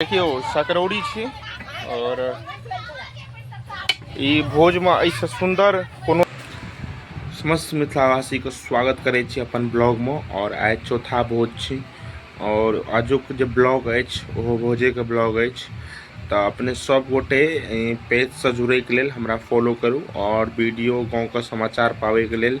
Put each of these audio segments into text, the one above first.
देखियौ सकरौरी छी और ई भोजमे एहिसँ सुन्दर कोनो समस्त मिथिलावासीके स्वागत करै छी अपन ब्लॉगमे आओर आइ चौथा भोज छी आओर आजुक जे ब्लॉग अछि ओहो भोजेके ब्लॉग अछि तऽ अपने सब गोटे पेजसँ जुड़ैके लेल हमरा फॉलो करू आओर वीडियो गाँवके समाचार पाबैके लेल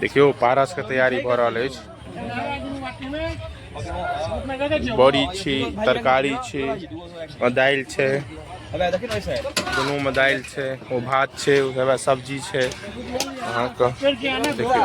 देखियौ पारसके तैयारी भऽ रहल अछि बड़ी छी तरकारी छी दालि छै दुनूमे दालि छै ओ भात छै ओकरा सब्जी छै अहाँके देखियौ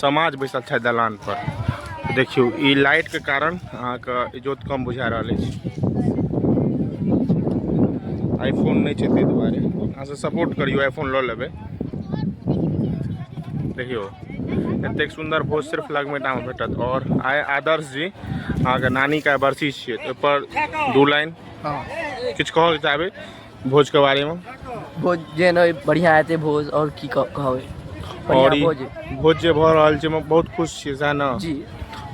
समाज बैसल छथि दलान पर देखियौ ई लाइट के कारण अहाँके इजोत कम बुझा रहल अछि आईफोन नहि छै ताहि दुआरे अहाँ से सपोर्ट करियौ आईफोन लऽ लेबै देखियौ एतेक सुन्दर भोज सिर्फ लगमेटामे भेटत आओर आइ आदर्श जी अहाँके नानीके बरसी छियै ओहिपर दू लाइन किछु कहऽ चाहबै भोज के बारे में भोज जे नहि बढ़िया हेतै भोज और की कह- कहबै और बढ़िया ई भोज भोज जे भऽ रहल छै में बहुत खुश छियै सएह ने जी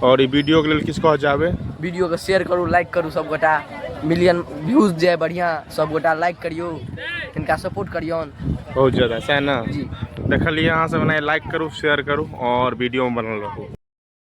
और ई वीडियो के लेल किछु कह जाबे वीडियो के शेयर करू लाइक करू सब गोटा मिलियन व्यूज जाय बढ़िया सब गोटा लाइक करियौ इनका सपोर्ट करियौन बहुत ज्यादा सएह ने जी देखलियै अहाँ सब ने लाइक करू शेयर करू और वीडियो में बनल रहू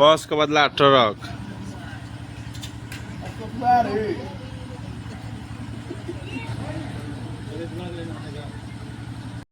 बस के बदला ट्रक